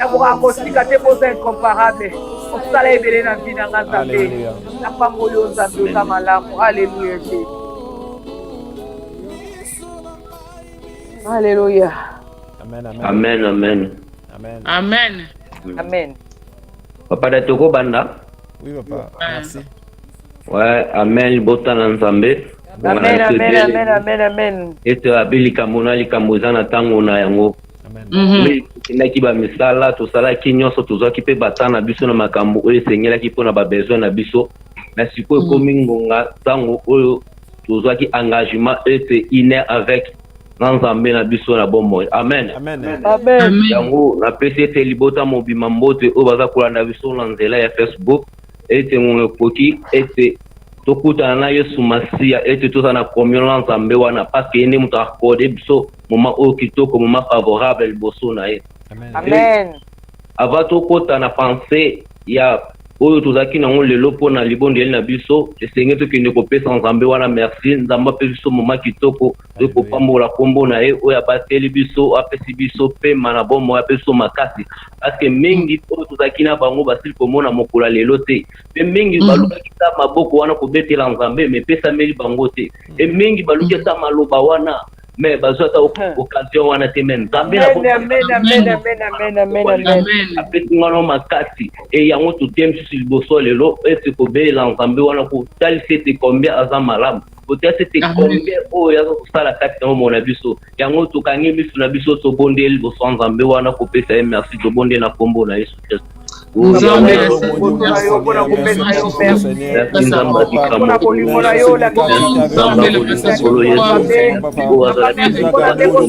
nakoka kosika te boza incomparable osala ebele na vi na nga nzambe Napamboli yo Nzambe, oza malamu. Aleluya Jesu. Aleluya. Amen, amen. Amen, amen. Amen. Amen. Amen. Papa da toko banda. Oui, papa. Merci. Ouais, amen. Bota na Nzambe. Amen, amen, amen, amen, amen. Ete abeli kamona likambo eza na tango na yango. Mhm. Oui, tokendaki bamisala tosalaki nyonso tozwaki mpe bata na biso na makambo oyo esengelaki mpo na babesoin na biso na sikoyo mhm. ekomi ngonga ntango oyo tozwaki engagement ete iner avec na nzambe na biso na bomoi amen yango napesi ete libota mobima mbote oyo baza kolanda biso na nzela ya facebook ete ngonga ekoki ete tokutana na Yesu Masiya ete tozala na communion na Nzambe wana parce que ye nde moto akode biso moment oyo kitoko moment favorable liboso na ye amen avant tokota na pensée ya oyo tozalaki nango lelo mpo na libondeli na biso esengeli tokende kopesa nzambe wana merci nzambe apesi biso moma kitoko Nzambe kopambola kombo na ye oyo abateli biso apesi biso pema na bomoi apesi biso makasi parceke mingi mm. oyo tozalaki na bango basili komona mokolo ya lelo te mpe mingi mm. balukaki ta maboko wana kobetela nzambe me epesameli bango te e mingi baluki ata maloba wana me bazwa ata occasion wana te me nzambe apesi ngana makasi e yango totemisusu liboso lelo ete kobelela nzambe wana kotalisa ete combien aza malamu otasi ete kombe oyo yaza kosala kati na bomoi na biso yango tokangi miso na biso tobondeli liboso ya nzambe wana kopesa ye merci tobondeli na nkombo na yesu kristo nzambe mpona kopesa yo mpona bolingo na yo lakolo yesu mpona ndeko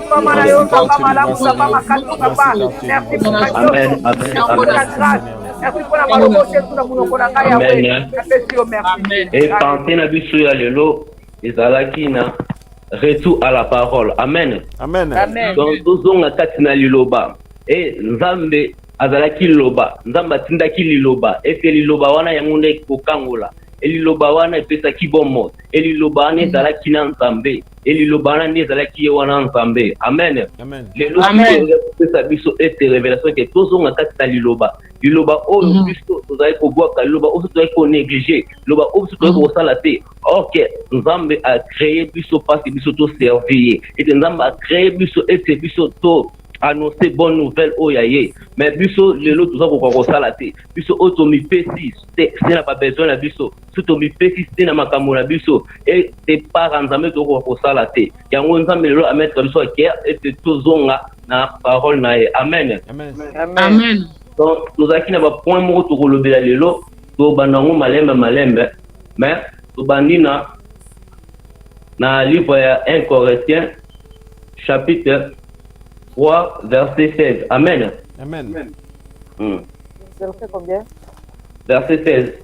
epanse na biso ya lelo ezalaki na retour à la parole amen donc tozonga kati na liloba e nzambe azalaki liloba nzambe atindaki liloba ete liloba wana yango nde kokangola eliloba wana epesaki bomoi eliloba wana ezalaki na nzambe e liloba wana nde ezalaki ye wana nzambe amen lelo kopesa biso ete revelation ete tozonga kati na liloba liloba oyo mhm. biso tozalaki kobwaka liloba oyo tozalaki konéglige liloba oyo biso tozalaki mhm. kosala te orke nzambe acreye biso mpasi biso toservi ye ete nzambe acreye biso ete biso to annonce bonne nouvelle oyo ya ye mais biso lelo toza kokoka kosala te biso oyo tomipesi se na babesoin na biso so tomipesi te na makambo na biso epara nzambe tokoka kosala te yango nzambe lelo ametre biso aker ete tozonga na parole na ye amen amen donc tozalaki na bapoint moko tokolobela lelo tobanda yango malembe malembe mais tobandi na na livre ya 1 corinthiens chapitre 3 verset 16 amen amen, amen. Hmm. verset 16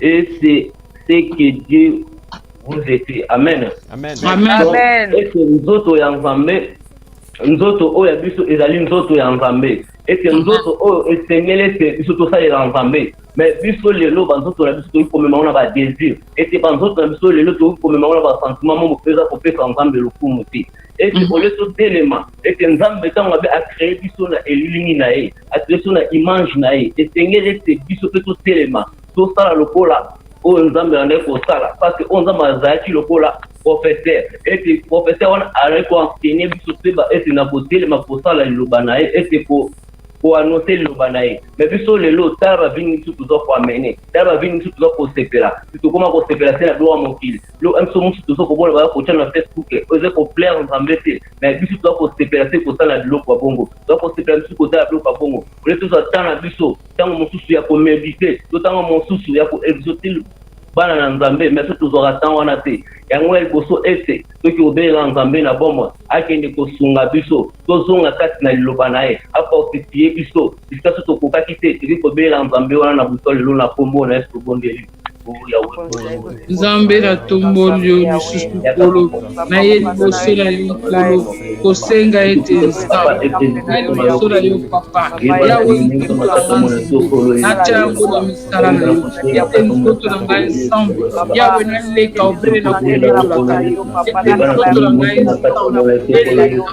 Et c'est ce que Dieu vous est fait. Amen. Amen. Amen. Donc, Amen. ete nzoto ya nzambe nzoto oyo ya biso ezali nzoto ya nzambe ete nzoto oyo esengeli ete biso tosalela nzambe me biso lelo banzoto na biso tokoki komema ngo na badésir ete banzoto na biso lelo tokoki komema ngo na basentiment mo mopeza kopesa nzambe lokumu te ete Mhm. olie totelema ete nzambe ntango abe acreye biso na elilingi na ye atlesio na image na ye esengeli ete biso mpe totelema tosala lokola oyo nzambe andaki kosala parceke oyo nzambe azalaki lokola professeur ete professeur wana azalaki koenseigne biso toyeba ete na kotelema kosala liloba na ye ete ko koanonse liloba na ye me biso lelo tala bavini biso toza koamene tala bavini biso toza kosepela tokoma kosepela se na biloko ya mokili biloko ya biso mosusu toza komona baza kotya na facebook oyo eza koplaire nzambe te me biso toza kosepela se kosala biloko ya bongo donc kosepela lisusu kotala biloko ya bongo ole tozwa temps na biso ntango mosusu ya komedite to ntango mosusu ya koexotil bana na nzambe mais so tozwaka temps wana te yango ya liboso ete soki obengaka nzambe na bomoi akende kosunga biso tozonga kati na liloba na ye afortifie biso bisika so tokokaki te tokoki kobengela nzambe wana na buto lelo na nkombo na yesu tobondeli Nzambe na tomboli yo lisusu Nkolo, na ye liboso na yo Nkolo, kosenga ete Nzambe na liboso na yo Papa, Yawe Nkolo na nga Nzambe, natya yango na misala na yo, ete nzoto na ngai Nzambe, Yawe naleka obele na koyambolaka yo, ete nzoto na ngai Nzambe, eleka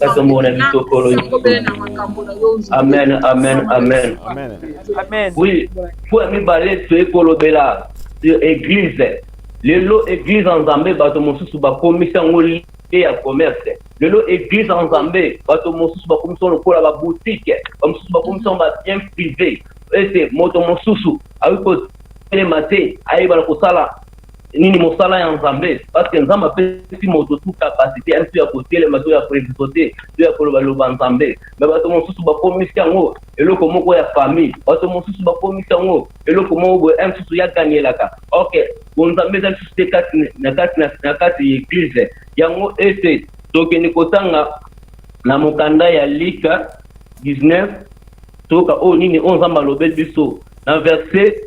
Katomona bitokolo Amen, amen, amen. Amen. Oui, fois mibale toye kolobela sur église. Lelo église en Zambie bato mosusu bakomisi yango lie ya commerce. Lelo église en Zambie bato mosusu bakomisi yango lokola ba boutique, ba mosusu bakomisi yango ba bien privé. Ete moto mosusu akoki kotelema te ayebana kosala nini mosala ya nzambe parceke nzambe apesi moto tu kapasite ya biso ya kotelema to ya koekisote to ya kolobaloba nzambe me bato mosusu bakomisi yango eloko moko ya famille bato mosusu bakomisi yango eloko moko boye e mosusu ya gangelaka ok bonzambe eza lisusu te kati na kati na kati ya eglize yango ete tokende kotanga na mokanda ya lika 19 toyoka oyo nini oyo nzambe alobeli biso na verse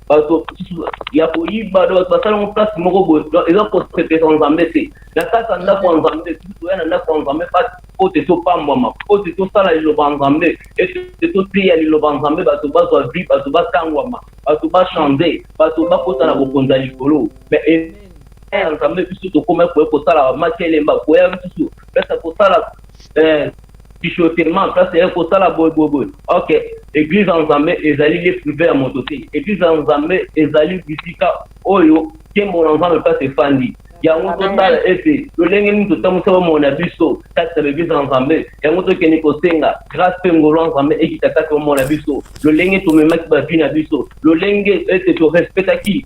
bato mosusu ya koyiba do bato basala yango place moko boye donc eza kosepesa nzambe te na kati ya ndako ya nzambe soki toya na ndako ya nzambe po te topambwama po te tosala liloba ya nzambe ete toteya liloba ya nzambe bato bazwa vie bato batangwama bato bachange bato bakota na bokonzi ya likolo mais ya nzambe biso tokomaki koya kosala bamaki elemba koya lisusu pesa kosala eh, chuchotement ça c'est ko sala boy boy boy ok église en Zambé ezali les privés à moto te église en Zambé ezali bisika oyo kembo na Nzambe place efandi yango totala ete lolenge nini totambusa bomoi na biso kati na baeglize ya nzambe yango tokende kosenga grâce mpe ngolo ya nzambe ekita kati bomoi na biso lolenge tomemaki bavi na biso lolenge ete torespectaki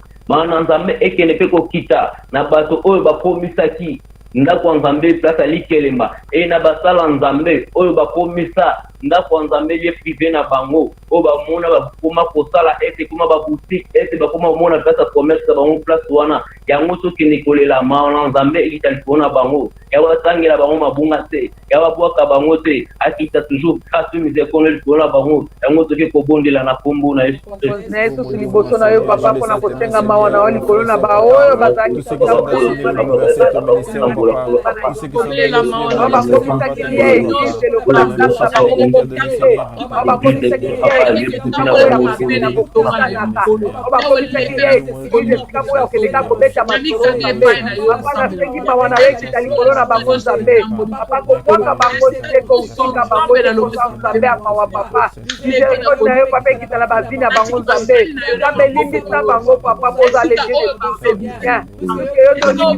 Mawa na Nzambe ekende mpe kokita na bato oyo bakomisaki ndako ya Nzambe place ya likelemba, et na basala Nzambe oyo bakomisa ndako ya Nzambe lieu prive na bango, oyo bamona bakoma kosala ete ekoma ba boutique, ete bakoma komona place ya commerce na bango place wana, yango tokende kolela mawa na Nzambe ekita likolo na bango. ya batangela bango mabunga te ya babwaka bango te akita toujours grâce mise ekono likolo na bango yango toke kobondela na kombo na yesu na yesu liboso na yo papa mpona kosenga mawa na yo likolo na baoyo bazalibakomisakeli ya eglise lokola bakomisakeli ya eglise bakomisakeli ya eglise kozwa esika oyo akendeka kobeta masolo nzambe papa nasengi mawa na yo ekita likolo na bango nzambe papa kobwaka bango te kosunga bango te kosa nzambe ya mawa papa misericorde na yo papa ekita na bavi na bango nzambe nzambe limbisa bango papa bozala edie de tout c'est bien soki yo tolii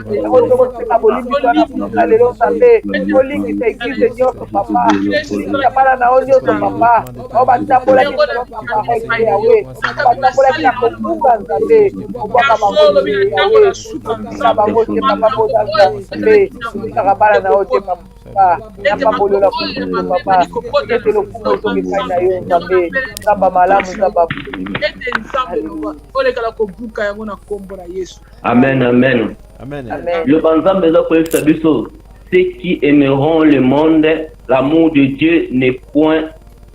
oyo tokosenga bolimbisi wana kuna lelo nzambe olingisa eglize nyonso papa olingisa bana na yo nyonso papa oyo batambolaki lelo papa oyo yawe batambolaki na kokumba nzambe kobwaka bango yawe otika bango te papa bozalisa nzambe otikaka bana na yo te papa napambolola kutu papa ete lokumu ezoki epai na yo nzambe nzamba malamu nzamba olekala kobuka yango na nkombo na yesu Amen, amen. Amen. amen. Le banzambe eza koyebisa biso ceux qui aimeront le monde, l'amour de Dieu n'est point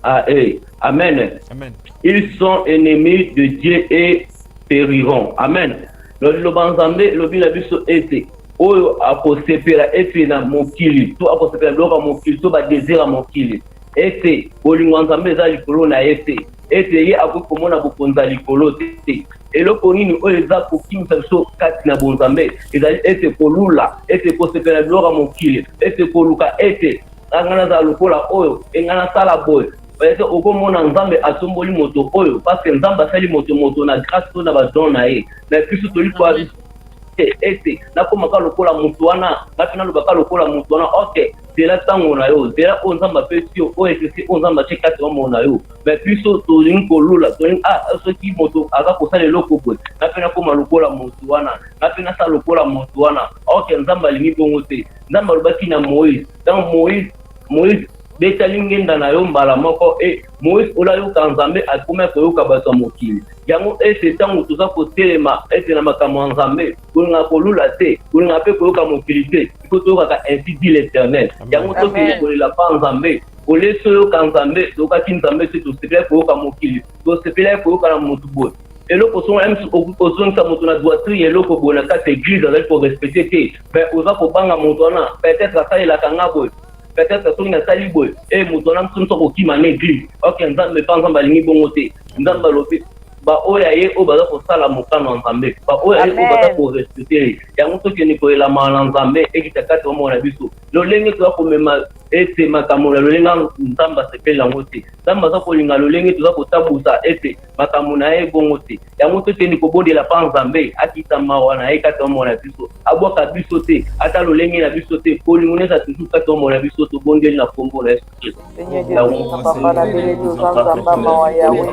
à eux. Amen. amen. Ils sont ennemis de Dieu et périront. Amen. Liloba nzambe elobi na biso ete oyo akosepela ete na mokili to akosepela biloko ya mokili to badesire ya mokili ete bolingo ya nzambe eza likolo na ye te ete ye akoki komona bokonzi ya likolo te eloko nini oyo eza kokimisa biso kati na bonzambe ezali ete kolula ete kosepela biloko ya mokili ete koluka ete ngai nazala lokola oyo engai nasala boye ete okomona nzambe atomboli moto oyo paske nzambe asali moto moto na grâce to na badon na ye na biso toli te ete nakomaka lokola moto wana ngai mpe nalobaka lokola moto wana ok zela ntango na yo zela oyo nzambe apesi yo oyo esesi oyo nzambe atye kati ya bomoi na yo mais biso tolingi kolula tolingi ah soki moto aza kosala eloko boye nga mpe nakoma lokola moto wana nga mpe nasala lokola moto wana ok nzambe alingi bongo te nzambe alobaki na moïse donc moïse moïse betali ngenda na yo mbala moko e eh, moïse olayoka nzambe akomaki koyoka bato ya mokili yango ete ntango toza kotelema ete na makambo ya nzambe kolingaka kolula te kolingaka mpe koyoka mokili te iko toyokaka ainsi dit l'éternel yango tokende kolela mpa nzambe Ole toyoka Nzambe, toyokaki Nzambe te, tosepelaki koyoka mokili, tosepelaki koyoka na moto boye eloko songo na misu ozongisa moto na doitrie eloko boye na kati ya eglise azali korespecte te me oza kobanga moto wana peut-être asalelaka nga boye peut-être soki nasali boye e moto wana mosu mosu akokima na eglise ok nzambe mpa nzambe alingi bongo te nzambe alobi baoyo ya ye oyo baza kosala mokano ya nzambe baoyo ya ye oyo baza korespecte yango tokende koyelamana na nzambe ekita kati ya bomoko na biso lolenge toya komema ete makambo na lolenge yango Nzambe asepeli yango te. Nzambe aza kolinga lolenge toza kotambusa ete makambo na ye bongo te. Yango tokende kobondela mpa Nzambe akita mawa na ye kati ya bomoi na biso, abwaka biso te, ata lolenge na biso te, bolingo na ye eza toujours kati ya bomoi na biso. Tobondeli na nkombo na Yesu Kristo. Seigneur Dieu, papa, la belle, nous en mawa, Yahweh.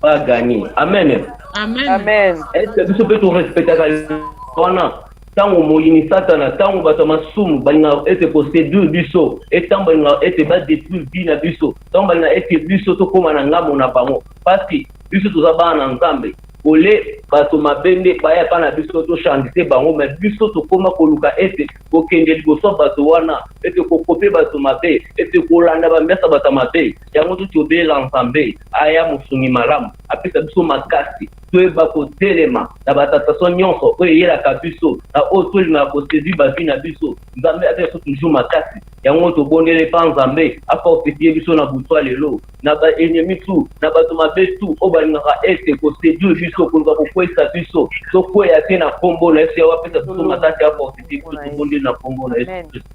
ba gagner amen amen amen est ce biso pe to respectaka wana ntango moyini satana ntango bato ya masumu balingaka ete koseduire biso etango balingaka ete badetruire bi na biso ntango balingaka ete biso tokóma na ngambo na bango mpasi biso toza bana na nzambe ole bato mabe nde baya epai na biso tochandise bango me biso tokóma koluka ete kokende liboso ya bato wana ete kokope bato mabe ete kolanda bamesa bato ya mabe yango tuti obelela nzambe aya mosungi malamu apesa biso makasi toyeba kotelema na batentation nyonso oyo eyelaka biso na oyo tolingaka kosedui bavi na biso nzambe apesa biso toujours makasi yango tobondele mpa nzambe afortifie biso na butwa lelo na baennemi tu na bato mabe tu oyo balingaka ete kosedui biso koluka kokweisa biso tokweya te na nkombo na yesu yawe apesa biso makasi afortifie biso tobondeli na nkombo na yesu kristo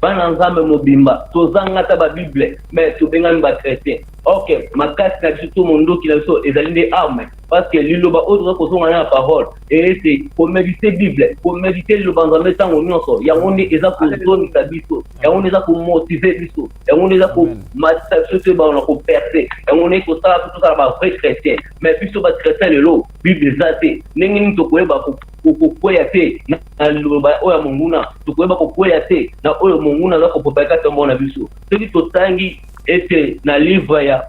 Bana nzambe mobimba tozanga ata ba bible mais tobengami ba chretien ok makasi na biso to mondoki na biso ezali nde arme parce que liloba oyo toza kozonga na parole ete komedite bible komedite liloba nzambe ntango nyonso yango nde eza kozongisa biso yango nde eza komotive biso yango nde eza komatisa biso to ebana na koperse yango nde kosala biso tozala ba vrai chrétien mais biso ba chrétien lelo bible eza te ndenge nini tokoyeba Tokokweya te na liloba oyo ya monguna, tokoyeba kokweya te na oyo monguna aza kopropage kati ya mboka na biso. Soki totangi ete na livre ya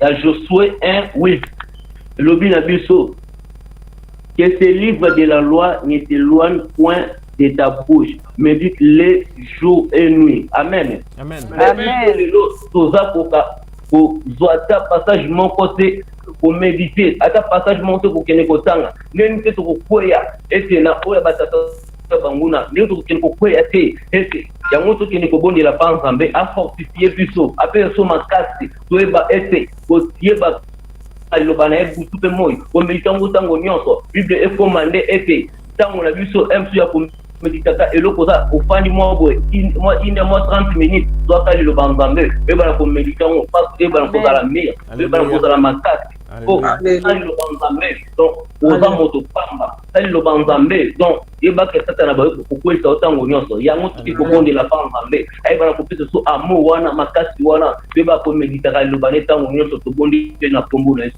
ya Josue 1 8 elobi na biso que ce livre de la loi ne s'éloigne point de ta bouche mais dit le jour et nuit amen amen lelo toza koka kozwa ata passage moko te komedite ata passage moko te kokende kotanga ndenge te tokokweya ete na oyo ya batata banguna ndenge tokokende kokweya te ete yango tokende kobondela mpa nzambe afortifie biso apesa so makasi toyeba ete koyeba liloba na ye butu mpe moi komedite yango ntango nyonso bible ekoma nde ete tango na biso msu ya komeditaka eloko oza ofandi mwa boye mwa ine mwa 30 minutes zwaka liloba nzambe oyebana komedita yango mpasi oyebana kozala mire oyebana kozala makasi po sali liloba nzambe donc oza moto pamba sali liloba nzambe donc yebaka satana baye kokwelisa yo ntango nyonso yango soki kobondela mpa nzambe ayebana kopesa so amour wana makasi wana toyebaka komeditaka liloba ne ntango nyonso tobondi mpe na nkombo na yesu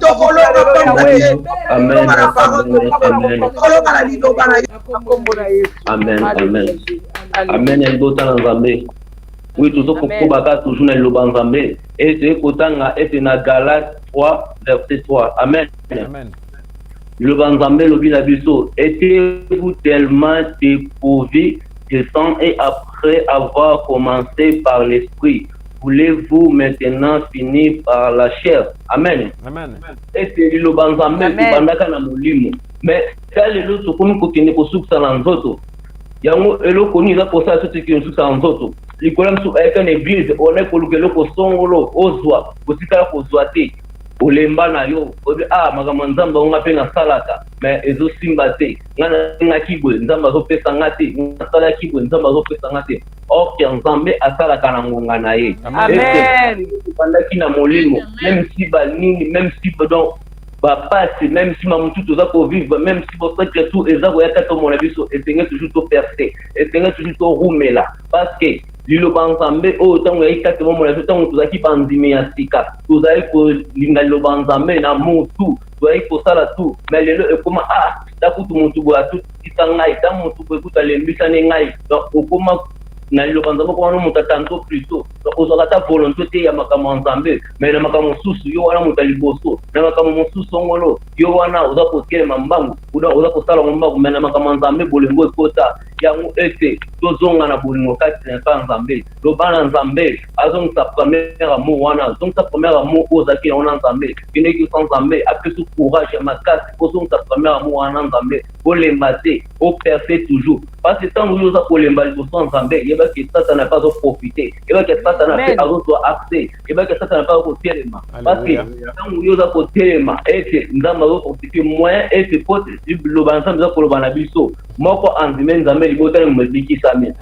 tokolonga pamba te tokolonga na parole tokolonga na liloba na ye amen amen amen ya libota na nzambe oui tozo kokobaka toujours na liloba nzambe e toye kotanga ete na galate 3 verset 3 amen, amen. liloba nzambe elobi na biso etez-vous tellement éprouvé de sang et après avoir commencé par l'esprit voulez vous maintenant finir par la chair amen ete liloba nzambe ekobandaka na molimo mais ta lelo tokomi kokende kosukisa na nzoto yango eloko nini eza kosala soki tokende kosukisa na nzoto likolo ya biso ayaka na eglize ona ekoluka eloko songolo ozwa kotikala kozwa te olemba na yo oyebi a ah, makambo ya nzambe yango nga mpe nasalaka me ezosimba te nga nalingaki boye nzambe azopesa nga te nasalaki boye nzambe azopesa nga te Orke Nzambe asalaka na ngonga na ye. Amen. Bandaki na molimo, même si ba nini, même si donc ba pasi, même si mamu tout oza ko vivre, même si bo secret tout eza ko yaka to mona biso, esenge toujours to percer, esenge toujours to rumela parce que liloba nzambe oyo ntango yaki kati bomona biso ntango tozalaki bandimi ya sika tozalaki kolinga liloba nzambe na mutu Toyaki kosala tout mais lelo ekoma ah ta kutu mutu boye atutisa ngai ta mutu boye kutu alembisani ngai donc okoma na liloba nzambe okoma no mutu atanto plutot donc ozwaka ata volonte te ya makambo ya nzambe mais na makambo mosusu yo wana mutu ya liboso na makambo mosusu ongolo yo wana oza kotelema mbangu donc oza kosala ngo mbangu mais na makambo ya nzambe bolingo ekota yango ete tozonga na bolingo kati na epa ya nzambe loba na nzambe azongisa premier amour wana azongisa premier amour oyo ozalaki yango na nzambe kineki sa nzambe apesi courage ya makasi ozongisa premier amour wana na nzambe olemba te operse toujours parce ntango yo oza kolemba liboso ya nzambe yebaki satana mpe azoprofite yebaki satana mpe azozwa accès yebaki satana mpe azokotelema parce ntango yo oza kotelema ete nzambe azokonstitue moyen ete po loba nzambe eza koloba na biso moko andime nzambe libota libikisami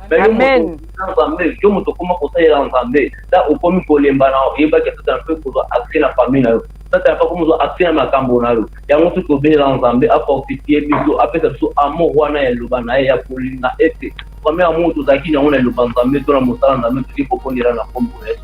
na nzambe yo moto okoma kosalela nzambe ta okomi kolemba na oyebaki satana mpe kozwa accès na famille na yo satana mpe akomi kozwa accès na makambo na yo yango soki obelela nzambe afortifie biso apesa biso amour wana ya liloba na ye ya kolinga ete premier amour tozalaki na yango na liloba nzambe to na mosala nzambe toki kobondela na kombo na yesu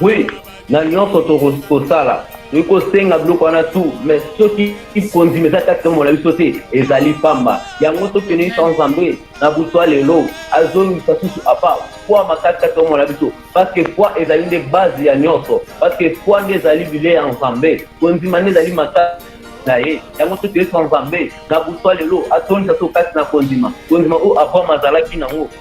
Oui, na nyonso tokoki kosala tokoki kosenga biloko wana tu mais soki kondima eza kati tomo na biso te ezali pamba yango tokende sa nzambe na butwa lelo azongisa susu apa foi makasi kati tomo na biso parceke foi ezali nde base ya nyonso parceke foi nde ezali bile ya nzambe kondima nde ezali makasi na ye yango soki toyesa nzambe na butwa lelo atondisa so kati na kondima kondima oyo abraham azalaki nango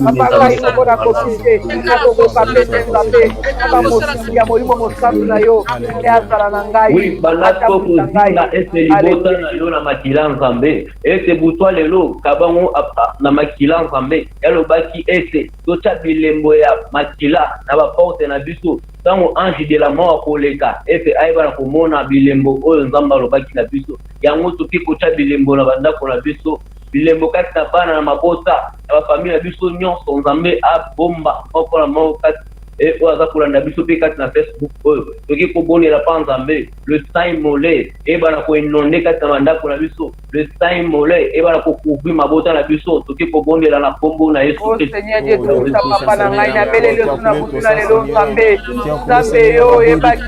mapalwasi yango nakoki te nakokoka mpe mpenza mpe ata mosungi ya molimo mosantu na yo nde azala na ngai atambusa ngai ete libota na yo na makila nzambe ete butwa lelo kabango na makila nzambe yalobaki ete totya bilembo ya makila na baporte na biso ntango ange de la mort akoleka ete ayeba na komona bilembo oyo nzambe alobaki na biso yango toki kotya bilembo na bandako na biso bilembo kati na bana na mabota na bafamile na biso nyonso. Nzambe abomba moko na moko kati e oyo aza kolanda biso mpe kati na Facebook oyo toki kobonela mpa Nzambe le saint mole eyebana koinonde kati na bandako na biso le saint mole eyebana kocouvri mabota na biso toki kobondela na nkombo na Yesu oh, Kristo. Seigneur Dieu, oh, papa na ngai nabeleli yo na butu na lelo Nzambe, Nzambe yo oyebaki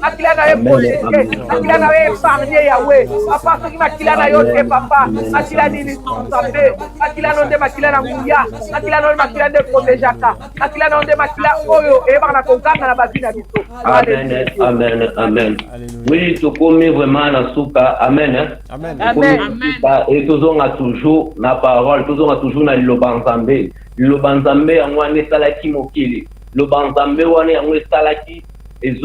makila na ye polete makila na ye epargne yawe papa soki makila na yo te papa makila nini nzambe makila no nde makila na nguya makila no makila nde protejaka makila na yo nde makila oyo eyebaka na koganga na bavi na biso amen amen amen oui tokomi vraiment na suka amen e tozonga toujours na parole tozonga toujours na liloba nzambe liloba nzambe yango wana esalaki mokili liloba nzambe wana yango esalaki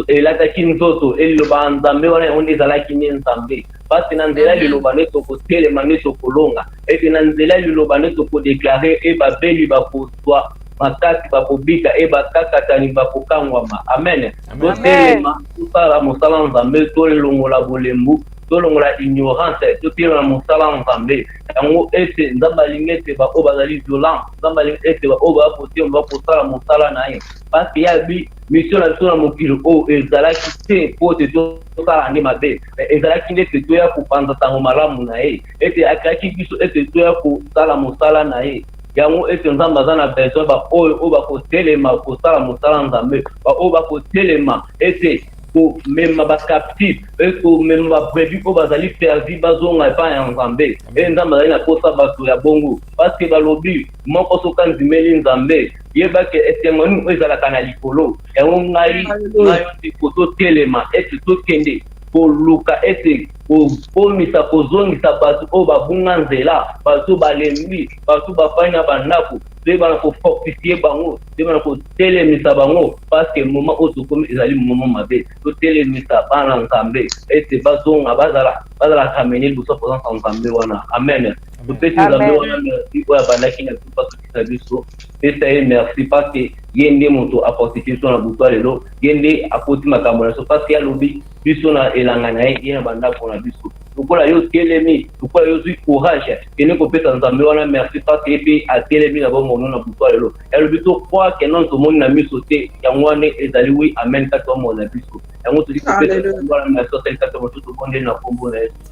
elataki nzoto e liloba ya Nzambe wana yango nde ezalaki nde Nzambe pasi na nzela liloba nde tokotelema nde tokolonga ete na nzela liloba nde tokodeklare e babeli bakozwa makasi bakobika e bakakatani bakokangwama amen totelema tosala mosala Nzambe tolongola bolembu tolongola ignorance totelema mosala Nzambe yango ete Nzambe alingi ete baoyo bazali violent Nzambe alingi ete baoyo bakotelema bakosala mosala na ye pasi ya misio na biso na mokili oyo ezalaki te mpo ete tosala nde mabe ezalaki nde ete toya kopanza ntango malamu na ye ete akreaki biso ete toya kosala mosala na ye yango ete nzambe aza na besoin baoyo oyo bakotelema kosala mosala nzambe baoyo bakotelema ete komema bacaptif e komema babrebi oyo bazali perdi bazonga epai ya nzambe e nzambe azali na mposa bato ya bongo paske balobi moko soki andimeli nzambe yeba ke esengo nini oyo ezalaka na likolo yango ngai na yo ndeko totelema ete tokende koluka ete kokomisa kozongisa bato oyo babunga nzela bato oyo balembi bato oyo bafandi na bandako toyeba na kofortifie bango toyeba na kotelemisa bango parceke moma oyo tokomi ezali moma mabe totelemisa bana nzambe ete bazonga bazala bazala kamene liboso presence ya nzambe wana amen topesi nzambe wana merci oyo abandaki na biso mpo asukisa biso pesa ye merci parceke ye nde moto afortifie biso na butwa lelo ye nde akoti makambo na biso parceke alobi biso na elanga na ye ye na bandako na biso lokola yo otelemi lokola yo ozwi courage kende kopesa nzambe wana merci parceke ye mpe atelemi na bomono na butwa lelo yalobi tokroire ke nano tomoni na miso te yango wana ezali wi amen kati bomono na biso yango tozali kopesa wana merci asali kati ya mosusu bonde na nkombo na yesu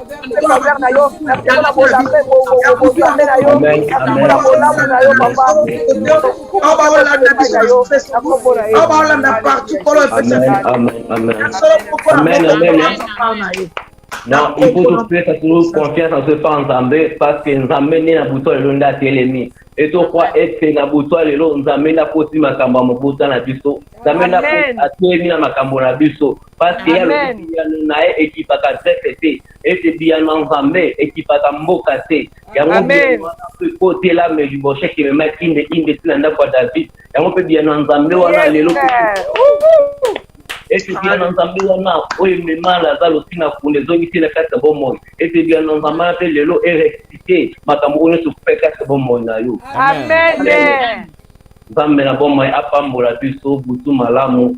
Amen, amen. Non, il faut tout faire toujours confiance en ce pas Nzambe parce que Nzambe nde na butu lelo nde atelemi e tokwa ete na butu lelo Nzambe nde akoti makambo ya mobota na biso Nzambe nde atelemi na makambo na biso parce que yalobi biyano na ye ekipaka zeke te ete biyano ya nzambe ekipaka mboka te yango biyano wana mpe ekotela melibosheke mema inde inde ti na ndako ya david yango mpe biyano ya nzambe wana lelo ete biyano ya nzambe wana oyo emema laza lotina kuna ezongisi na kati ya bomoi ete biyano ya nzambe wana mpe lelo eresite makambo oyo nyonso mpe kati ya bomoi na yo nzambe na bomoi apambola biso butu malamu